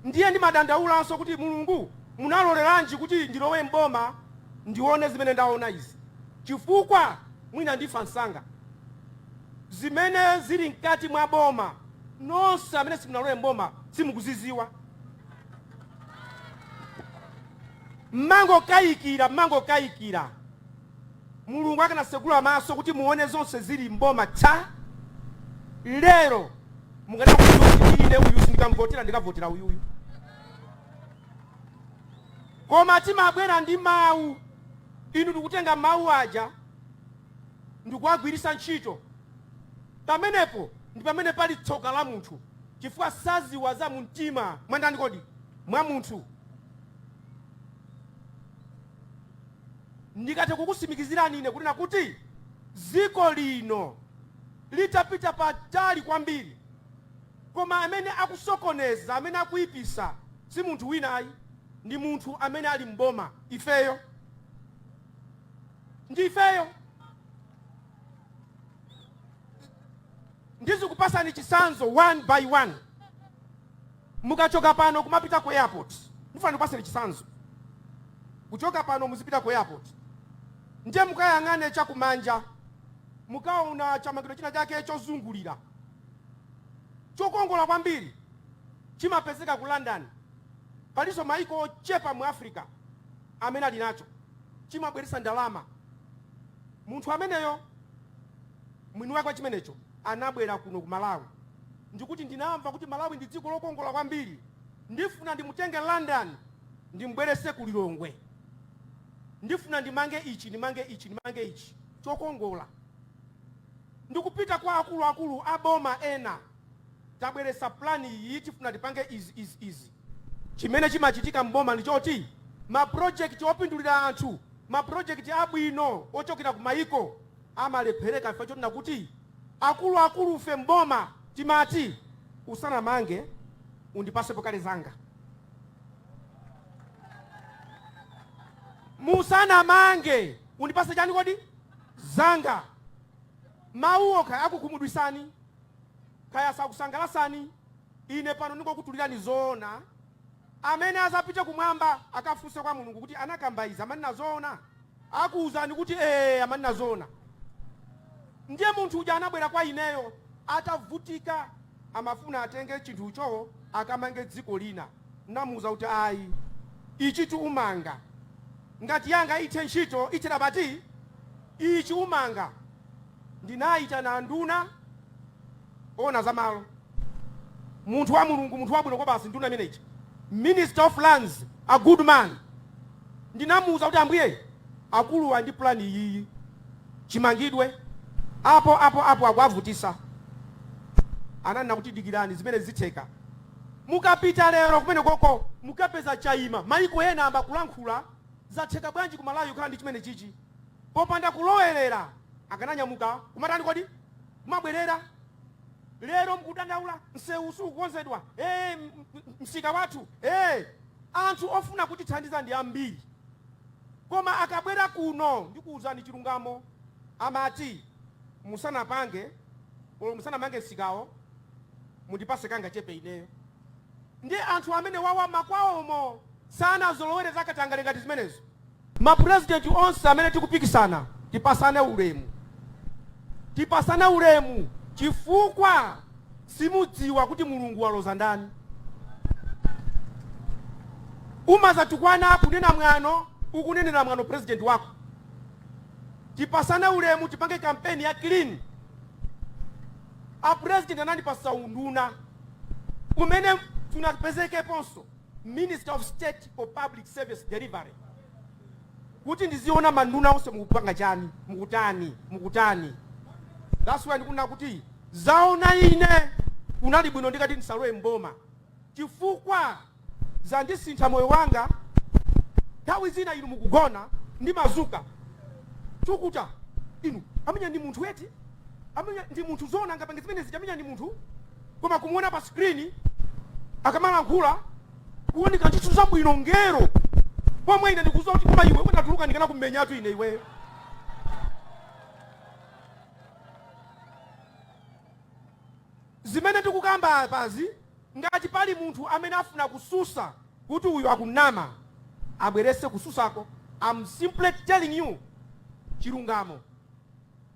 Ndiye ndimadandaulanso kuti Mulungu munaloleranji kuti ndilowe m'boma ndione zimene ndaona izi chifukwa mwina ndifa msanga. Zimene zili mkati mwa boma nonse amene simunalowe m'boma simukuziziwa. Mmangokayikira, mmangokayikira. Mulungu akanasegula maso kuti muone zonse zili m'boma za lero mukadakudziwa kuti ine uyu sindikamvotera ndikavotera uyuyu koma timabwera ndi mawu inu ndikutenga mawu aja ndikuwagwiritsa ntchito pamenepo ndi pamene pali tsoka la munthu chifukwa saziwa za mumtima mwandani kodi mwa munthu Ndikathe kukusimikizirani ine kunena kuti dziko lino likadapita patali kwambiri. Koma amene akusokoneza, amene akuipisa si munthu wina ayi, ndi munthu amene ali m'boma, ifeyo. Ndi ifeyo. Ndizikupasani chitsanzo one by one. Mukachoka pano kumapita ku airport, ndifuna ndikupaseni chisanzo. Kuchoka pano muzipita ku airport ndiye mukayang'ane cha kumanja mukaona chamangidwa china chake chozungulira chokongola kwambiri, chimapezeka ku London. Palinso maiko ochepa mu Africa amene ali nacho. Chimabweretsa ndalama munthu ameneyo mwini wake wa chimenecho. anabwera kuno ku Malawi ndikuti ndinamva kuti Malawi ndi dziko lokongola kwambiri ndifuna ndimutenge London ndimubwerese ku Lilongwe ndifuna ndimange ichi ndimange ichi ndimange ichi chokongola ndikupita kwa akuluakulu aboma ena tabweresa plan iyi tifuna tipange izi izi izi Chimene chimachitika m'boma ndi choti mapulojekiti opindulira anthu, mapulojekiti abwino ochokera ku mayiko, amalephereka chifukwa chonena kuti akuluakulufe m'boma timati, Usanamange, undipasepo kale zanga. Musanamange, undipase chani kodi? Zanga. Mawuwo kaya akukhumudwitsani. Kaya sakusangalatsani, ine pano ningokutulilani zoona. Amene azapite kumwamba akafunse kwa Mulungu kuti, Anakamba izi amanena zoona? Akuuzani kuti, Ee amanena zoona. Ndiye munthu uja anabwela kwa ineyo atavutika, amafuna atenge chinthucho akamange dziko lina. N'namuuza kuti, Ayi, ichitu umanga. Ngati yanga ithe ntchito, ithe, bati ichi umanga Ndinayitana anduna owona za malo, munthu wa Mulungu, munthu wabwino kwabasi, nduna imene ija, Minister of Lands, a good man. Ndinamuwuza kuti Ambuye, akuluwa ali ndi plan iyiyi, chimangidwe, apo, apo, apo, akuwavutisa. Ananena kuti dikirani, zimenezi zitheka. Mukapita lero kumenekoko mukapeza chayima. Mayiko ena ayamba kulankhula, zatheka bwanji ku Malawi kukhala ndi chimenechichi? Popanda kulowerera akananyamuka kumatani kodi? Kumabwerera. Lero mukudandaula msewu sukukonzedwa, ee msika wathu ee. Anthu ofuna kutithandiza ndi ambiri koma akabwera kuno ndikuuzani chilungamo amati musanapange or musanamange msikawo mundipase kangachepe ineyo. Ndiye anthu amenewawa makwawomo sanazolowere zakatangale ngati zimenezo. Ma president onse amene tikupikisana tipasane ulemu. Tipasane ulemu chifukwa simudziwa kuti Mulungu waloza ndani. Umazatukwana kunena mwano ukunenera mwano president wako. Tipasane ulemu tipange kampeni ya clean. A president anandipasa unduna umene sunapezekeponso. Minister of State for Public Service Delivery, kuti ndiziona manduna onse mukupanga chani, mukutani, mukutani. That's why ndikunena kuti zaona ine kunali bwino ndikadati ndisalowe mboma chifukwa zandisintha moyo wanga. Nthawi zina inu mukugona ndimadzuka thukuta inu ameneuja ndi munthu eti ameneuja ndi munthu zona angapange zimene zija ameneuja ndi munthu koma kumuona pa screen akamalankhula kuoneka ndithu wabwino ngelo pomwe ine ndikudziwa kuti koma iwe nditatuluka ndikana kummenyatu ine iweyo zimene ndikukamba apazi ngati pali munthu amene afuna kutsutsa kuti uyu akunama abweretse kutsutsako I'm simply telling you chilungamo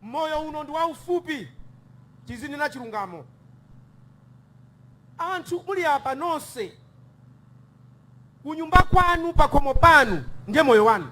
Moyo uno ndi waufupi tizinena chilungamo anthu muli apa nonse kunyumba kwanu pakhomo panu ndiye moyo wanu.